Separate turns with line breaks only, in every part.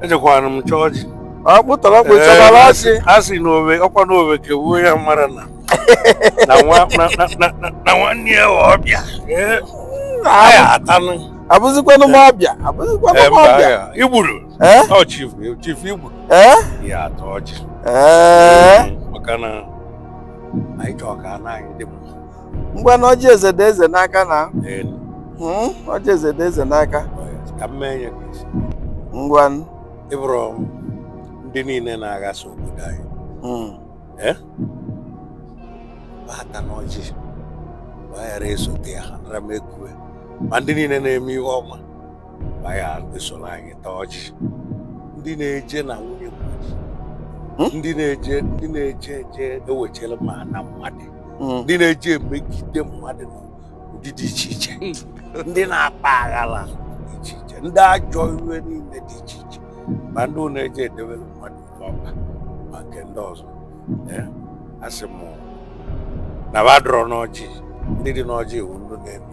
ejekwara m chọọ ọjị ọkpụtọrọ
ọkpụ ịchọbara ọjị a sị na owe ọkwa
na owe kewuo ya mara na na nwa- na- na- na- na- na nwanne ya wee ọbịa Ee, a ya atanụ abụzikwanụ
m ọbịa abụzikwanụ Ee, m mba, ọbịa ya. Igbudu
Eh? ọ chifu chifu Igbudu ee ya ata ọjị ee maka na anyị chọọ ka ana anyị dị mma ngwa na
ọjị eze dị eze n'aka na hmm? ọjị eze dị eze
n'aka
ngwa ị
bụrụ ndị niile na-aghasa obodo anyị hmm. eh? bata n'ọjị gbaghara esote ya ha nara m ekwube ma ndị niile na-eme ihe ọma gbaghara esoro anyị taa ọjị ndị na-eje na nwunye mmadụ ndị na-eje ndị na-eje eje ewechela ma ana mmadụ hmm. ndị na-eji emegide mmadụ n'ụdị dị iche iche hmm. ndị na-akpa aghara dị iche iche ndị ajọ ire niile dị iche iche ma ndị na-eji edewere mmadụ ọba ma nke ndị ọzọ asị m na badrọ n'ọjị ndị dị n'ọjị wụ ndị na-eme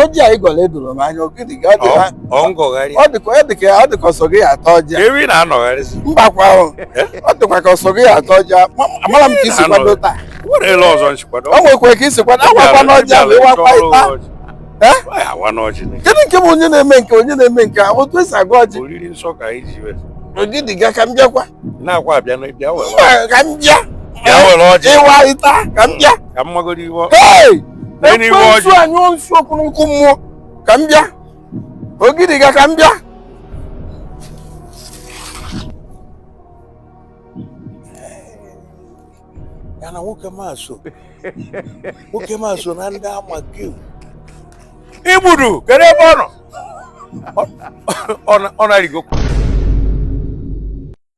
ọjị a ị gọla edoro m anya ọ dịka ọ sọ gị ata ọjị mbakwa ahụ ọ dịkwa ka ọ sọ gị ata ọjị amara m ka i si kwado taa o nwekwa ka i si kwado agwakwa n'ọjị ahụ ịwakwa ịta kedu nke bụ onye na-eme nke onye na-eme nke otu e si agọ ọjị Ogidiga ka m bịakwa ka m bịa ịwa ịta ka m bịa ka m magoro iwe ọ- Hey! Lee n'iwe ọjị. Ekwensu anyụọ nsu kuru n'ọkụ mmụọ ka m bịa Ogidiga ka m bịa
ya na nwoke ma so nwoke ma so na ndị ama kewu Igbudu kedu ebe ọ nọ Ọ- ọ na- ọ na-arịgo